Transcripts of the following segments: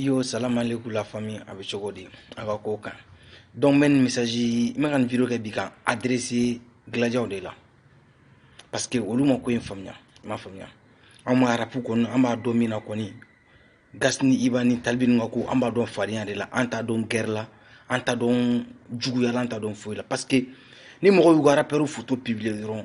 iyo salamalekun la famille a bɛ cogo di a ka ko kan donc n bɛ nin message n bɛ ka nin video kɛ bi k'a adresser gladiaw de la parce que olu ma ko in faamuya i m'a faamuya an b'a arapu kɔni an b'a dɔn min na kɔni gas ni iba ni tal b ninnu ka ko an b'a dɔn fadenya de la an t'a dɔn gɛrɛ la an t'a dɔn juguya la an t'a dɔn foyi la parce que ni mɔgɔ y'u ka arapɛriw foto publier dɔrɔn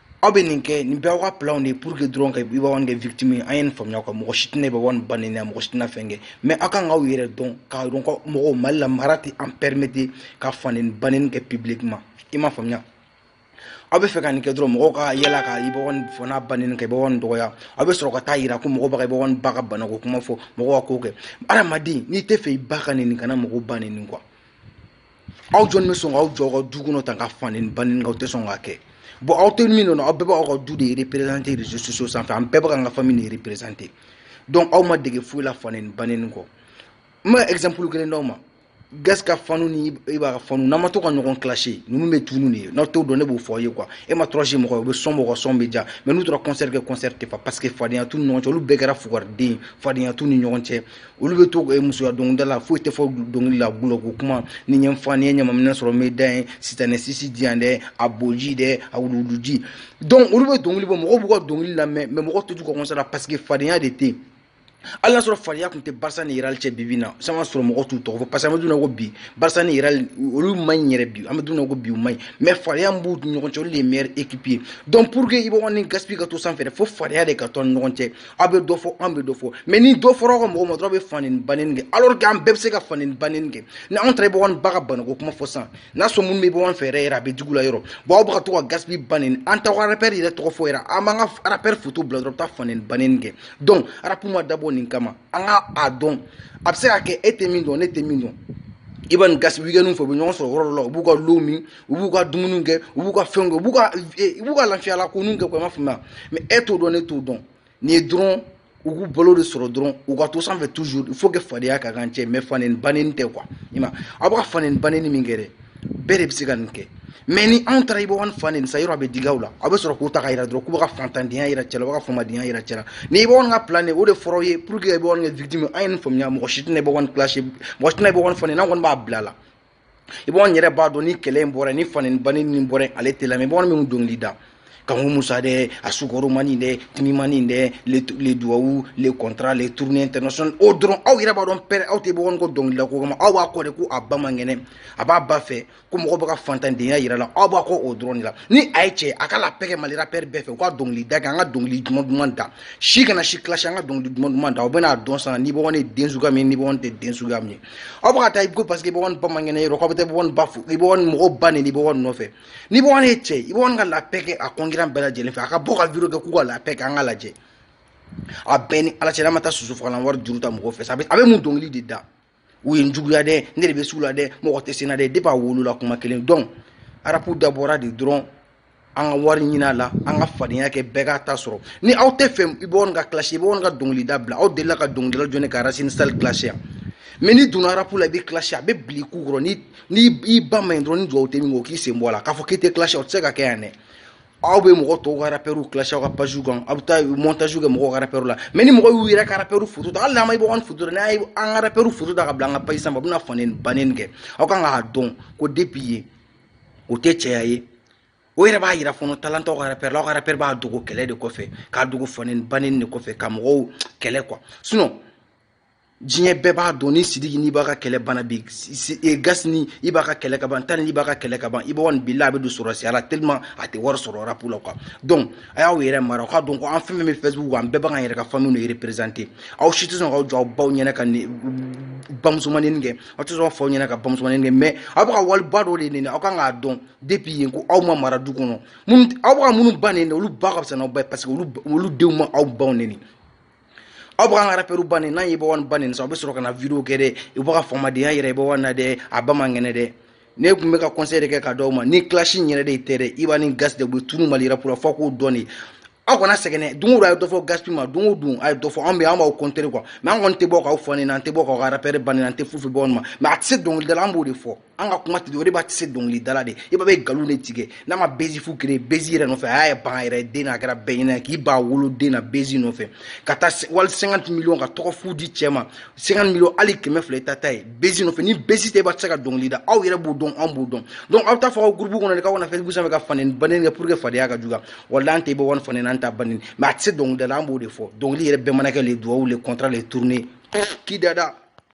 aw bɛ nin kɛ nin iba ka plan de ye pour que dɔrɔn ka iba kɛ victime ye an ye nin faamuya ka mɔgɔ si tɛna iba one ba nɛni mɔgɔ si tɛna fɛn kɛ mais aw kan k'aw yɛrɛ dɔn k'a dɔn ka mɔgɔw mali la mara tɛ an permettre ka fa nɛni ba nɛni kɛ publiquement i m'a faamuya aw bɛ fɛ ka nin kɛ dɔrɔn mɔgɔw ka yala ka iba one fa n'a ba nɛni k'iba one dɔgɔya aw bɛ sɔrɔ ka taa yira ko mɔgɔ bɛ ka iba one ba ka banako kuma fɔ mɔgɔw ka ko kɛ adamaden n'i tɛ fɛ i ba ka nɛni kana mɔgɔw ba nɛni quoi aw jɔn bɛ sɔn k'aw jɔ ka du kɔnɔ tan ka fa nɛni ba nɛni aw tɛ sɔn k'a kɛ bon aw tɛ min dɔn aw bɛɛ b'aw ka du de représenter réseaux sociaux sanfɛ an bɛɛ bɛ k'an ka famille de représenter donc aw ma dege foyi la fa nɛni ba nɛni kɔ n bɛ exemple kelen d'aw ma gas ka fanw ni iba ka fanw n'an ma to ka ɲɔgɔn clash ninnu bɛ tunu de ye n'aw t'o dɔn ne b'o fɔ aw ye quoi e ma kɔrɔsi mɔgɔ ye u bɛ son bɔ u ka son bɛ diya mais n'u taara concert kɛ concert tɛ fa parce que fadenya t'u ni ɲɔgɔn cɛ olu bɛɛ kɛra fugariden ye fadenya t'u ni ɲɔgɔn cɛ olu bɛ to musoya dɔnkilida la foyi tɛ fɔ dɔnkili la gulɔko kuma ni ɲɛ fa ni ye ɲamaminɛ sɔrɔ me da ye sitanɛ sisi diyan dɛ a boji dɛ a wuluwuluji donc olu bɛ dɔnkili bɔ mɔgɔw b'u ka dɔnkili lamɛn mais mɔgɔ tɛ taa u ka concert la parce que fadenya de tɛ hali n'a sɔrɔ fadenya tun tɛ barça ni real cɛ bi bi in na san ka sɔrɔ mɔgɔ t'u tɔgɔ fɔ parce que an b'a dɔn ko bi barça ni real olu man ɲi yɛrɛ bi an b'a dɔn ko bi u man ɲi mais fadenya min b'u ɲɔgɔn cɛ olu de ye meilleur équipe ye donc pour que iba one ni gaspi ka to sanfɛ fo fadenya de ka to an ni ɲɔgɔn cɛ aw bɛ dɔ fɔ an bɛ dɔ fɔ mais ni dɔ fɔra aw ka mɔgɔ ma dɔrɔn bɛ fa nɛni ba nɛni kɛ alors que an bɛɛ bɛ se ka fa nɛni ba nɛni kɛ ni anw taara iba one ba ka banako kuma fɔ sa n'a sɔrɔ minnu bɛ iba one fɛ yɛrɛ yɛrɛ a bɛ digi u la yɛrɛ bon aw bɛ ka to ka gaspi ba nɛni an t'aw ka arapɛri yɛrɛ tɔgɔ fɔ yɛrɛ an b'an ka arapɛri foto bila dɔrɔn bɛ taa fa nɛni ba nɛni kɛ donc arapu ma dabɔ nin kama an ka a dɔn a bɛ se ka kɛ e tɛ min dɔn ne tɛ min dɔn iba ni gas weekend fɛ u bɛ ɲɔgɔn sɔrɔ yɔrɔ dɔ la u b'u ka dɔlɔ min u b'u ka dumuniw kɛ u b'u ka fɛnw kɛ u b'u ka u b'u ka lafiyala ko ninnu kɛ quoi i m'a faamuya mais e t'o dɔn ne t'o dɔn nin ye dɔrɔn u k'u balo de sɔrɔ dɔrɔn u ka to sanfɛ toujours il faut que fadenya ka kɛ an cɛ mais fa nɛni ba nɛni tɛ quoi i ma aw bɛ ka fa nɛni ba nɛni min kɛ dɛ bɛɛ de bɛ se ka nin kɛ mais ni anw taara iba one fa nɛni sa yɛrɛ a bɛ digi aw la aw bɛ sɔrɔ k'o ta k'a yira dɔrɔn k'u bɛ ka fantandenya yira cɛ la u bɛ ka famadenya yira cɛ la nin iba one ka plan de o de fɔra aw ye pour que iba one kɛ victime an ye nin faamuya mɔgɔ si tɛna iba one clash mɔgɔ si tɛna iba one fa nɛni an kɔni b'a bila la iba one yɛrɛ b'a dɔn ni kɛlɛ in bɔra ni faneni baneni bɔra ale tɛ lamɛn bamanan minnu dɔnkili da kanku musa dɛ a sukaro mani dɛ timi mani dɛ les duwawu les contrats les tournées international o dɔrɔn aw yɛrɛ b'a dɔn pɛrɛ aw tɛ iba one kɔ dɔnkilida ko kama aw b'a kɔ de ko a ba man kɛnɛ a b'a ba fɛ ko mɔgɔ bɛ ka fantandenya yira la aw b'a kɔ o dɔrɔn de la ni a ye cɛ a ka la paix kɛ mali rapɛri bɛɛ fɛ u ka dɔnkilida kɛ an ka dɔnkili duman duman da si kana si kilasi an ka dɔnkili duman duman da aw bɛna a dɔn sa ni iba one ye den suguya min ni iba one tɛ den suguya min ye aw bɛ ka taa i ko parce que iba one ba man kɛnɛ yɔrɔ k'aw bɛ taa iba one ba fo iba one mɔgɔ ba neni iba one nɔfɛ ni iba one ye cɛ iba one ka la paix kɛ a concurrent bɛɛ lajɛlen fɛ a ka bɔ ka video kɛ k'u ka la paix kɛ an ka lajɛ a bɛɛ ni ala cɛ n'a ma taa sosofagalan wari juru ta mɔgɔ fɛ sa a bɛ mun dɔnkili de da u ye n juguya dɛ ne de bɛ sugu la dɛ mɔgɔ tɛ se n na dɛ depuis a wolola kuma kelen donc rapu dabɔra de dɔrɔn an ka wari ɲinin a la an ka fadenya kɛ bɛɛ k'a ta sɔrɔ ni aw t'a fɛ iba one ka kilasi iba one ka dɔnkilida bila aw delila ka dɔnkilidala jɔni ka racine sali kilasi yan mɛ n'i donna rapu la i bɛ kilasi a bɛ bili k'u kɔrɔ ni n'i ba ma ɲi dɔrɔn ni dugawu tɛ min kɔ k'i sen bɔ a la k'a fɔ k'i tɛ kilasi o tɛ se ka kɛ yan dɛ aw bɛ mɔgɔ tɔw ka rapɛriw kilasi aw ka pajiw kan aw bɛ taa mɔntasiw kɛ mɔgɔw ka rapɛriw la mɛ ni mɔgɔ y'u yɛrɛ ka rapɛriw foto ta hali n'an ma iba one foto n'a ye an ka rapɛriw foto ta ka bila an ka paji sanfɛ a bɛna faneni baneni kɛ aw kan k'a dɔn ko depuis yen o tɛ cɛya ye o yɛrɛ b'a jira fana talantɔ ka pɛrɛn ka pɛrɛn b'a dogo kɛlɛ de kɔfɛ k'a dogo faneni baneni de kɔfɛ ka mɔgɔw kɛlɛ kɔ sinon diɲɛ bɛɛ b'a dɔn ni sidiki ni iba ka kɛlɛ banna bi e, gaspi ni iba ka kɛlɛ ka ban tal ni iba ka kɛlɛ ka ban iba ni bila a bɛ don sɔrɔdasiya la tellement a tɛ wari sɔrɔ rapu la quoi donc a y'aw yɛrɛ mara aw k'a dɔn ko an fɛn fɛn bɛ facebook kan an bɛɛ b'an yɛrɛ ka famille de représenter aw si tɛ sɔn k'aw jɔ aw baw ɲɛna ka ni bamusomanin kɛ aw tɛ sɔn faw ɲɛna ka bamusomanin kɛ mɛ aw bɛ ka wali ba dɔ de neni aw kan k'a dɔn depuis yen ko aw ma mara du kɔnɔ aw bɛ ka minnu ba neni olu ba ka fisa n'aw ba ye parce que olu denw ma aw baw neni aw bɛ k'an ka rapɛriw ba neni n'an ye iba one ba neni sa aw bɛ sɔrɔ ka na video kɛ dɛ u bɛ ka faamadenya yira iba one na dɛ a ba man kɛnɛ dɛ ne tun bɛ ka conseil de kɛ ka d'aw ma ni clash in yɛrɛ de ye tɛ dɛ iba ni gas de bɛ tunu mali rapu ra fɔ k'o dɔn de aw kana sɛgɛn don o don a ye dɔ fɔ gaspi ma don o don a ye dɔ fɔ anw bɛ an b'aw contrer quoi mɛ an kɔni tɛ bɔ k'aw fa neni an tɛ bɔ k'aw ka rapɛri ba neni an tɛ fu fɔ iba one ma mɛ a tɛ se dɔnkilida la an b'o de fɔ an ka kuma tɛ o de iba tɛ se dɔnkilida la dɛ iba bɛ nkalon de tigɛ n'a ma bezi fu créer bezi yɛrɛ nɔfɛ a y'i ban a yɛrɛ den na a kɛra bɛɛ ɲɛ na k'i ban a woloden na bezi nɔfɛ ka taa wari 50 millions ka tɔgɔ fu di cɛ ma 50 millions hali kɛmɛ fila t'a ta ye bezi nɔfɛ ni bezi tɛ iba tɛ se ka dɔnkili da aw yɛrɛ b'o dɔn anw b'o dɔn donc aw t'a fɔ aw gurupu kɔnɔ de k'aw ka na facebook sanfɛ ka faneni baneni kɛ pour que fadenya ka juguya voilà an tɛ iba one fa neni an t'a ba neni mais a tɛ se dɔnkilida la an b'o de fɔ dɔnkili yɛrɛ bɛɛ mana kɛ les duwawu les contrats les tournées k'i dada